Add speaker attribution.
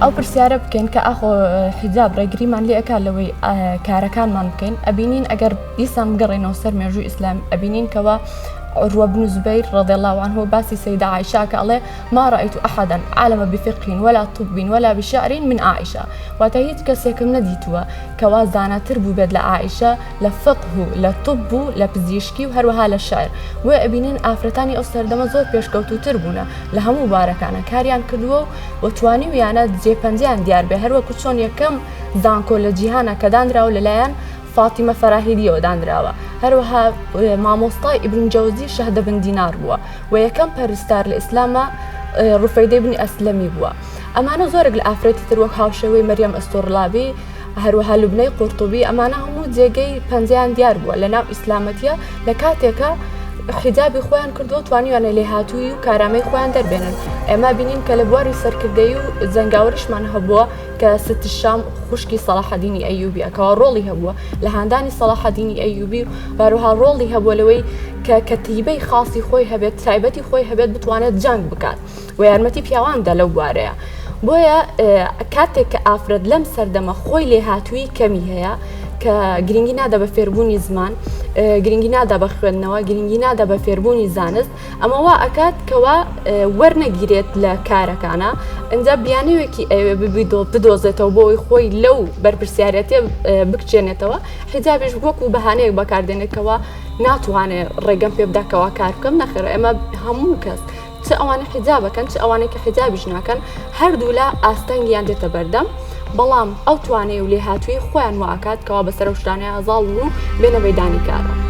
Speaker 1: ئەو پرسیارە بکەین کە ئاخۆ حیجاب ڕێگریمان لێ ئەکا لەوەی کارەکانمان بکەین ئەبینین ئەگەر دیسان بگەڕێنەوە سەر مێژوو ئیسلام ئەبینین کەەوە ڕوەبن زبیر ڕەدەڵاوان هۆ باسی سەیدعاعشاکە ئەڵێ ما رئیت احدا عالم بفقه ولا طب ولا بشعر من عائشە واتە هیچ کەسێکم نەدیتووە کەوا زاناتر بووبێت لە عائشە لە فقه و لە طب و لە پزیشکی و هەروەها لە شعر بۆیە ئەبینین ئافرەتانی ئەو سەردەمە زۆر پێشکەوتووتر بوونە لە هەموو بارەکانە کاریان کردووە و توانیویانە جێ پەنجەیان دیار بێ هەروەکو چۆن یەکەم زانکۆ لە جیهانا کە دانراوە لەلایەن فاتیمە فەراهیدیەوە دانراوە، هەروەها مامۆستای ئیبن جەوزی شەهدە بن دینار بووە و یەکەم پەرستار لە ئیسلامە ڕفەیدەی بنی ئەسلەمی بووە ئەمانە زۆرێک لە ئافرەتی تر وەک هاوشێوەی مەریەم ئەستۆرلابی هەروەها لوبنەی قورتوبی ئەمانە هەموو جێگەی پەنجەیان دیار بووە لە ناو ئیسلامەتە لە کاتێکە حیجابی خۆیان کردووە توانیوانە لێهاتووی و کارامەی خۆیان دەربێنن ئێمە بینین کە لە بواری سەرکردەی و جەنگاوریشمان هەبووە کە ستشام خوشکی سەڵاحەدینی ئەیوبی ئەکەوە ڕۆڵی هەبووە لە هاندانی سەڵاحەدینی ئەیوبی و باروها ڕۆڵی هەبووە لەوەی کە کەتیبەی خاصی خۆی هەبێت تایبەتی خۆی هەبێت بتوانێت جەنگ بکات و یارمەتی پیاواندا لەو بوارەیە بۆیە کاتێک کە ئافرەت لەم سەردەمە خۆی لێ هاتووی کەمی هەیە کە گرنگی نادا بە فێربوونی زمان گرنگی نادا بە خوێندنەوە گرنگی نادا بە فێربوونی زانست ئەمە وا ئەکات کەوا وەرنەگیرێت لە کارەکانە ئەجا بیانەوێکی ئەوێ ببیدۆ بدۆزێتەوە بۆی خۆی لەو بەرپسیارەتێ بکچێنێتەوە حیجابش وەکو بەهانەیەک بەکاردێنێتەوە ناتوانێت ڕێگەم پێ بداکەوە کار بکەم نەخێر ئەمە هەموو کەس چ ئەوانە حیجابەکەن چ ئەوانێکی حیجابیش ناکەن هەردوولا ئاستەنگیان دێتە بەردەم. بەڵام ئەو توانای و لێهاتوویی خۆیان وا ئەکات کەوا بەسەر ئەو شتانەیا زاڵ بن و بێنە مەیدانی کارەوە.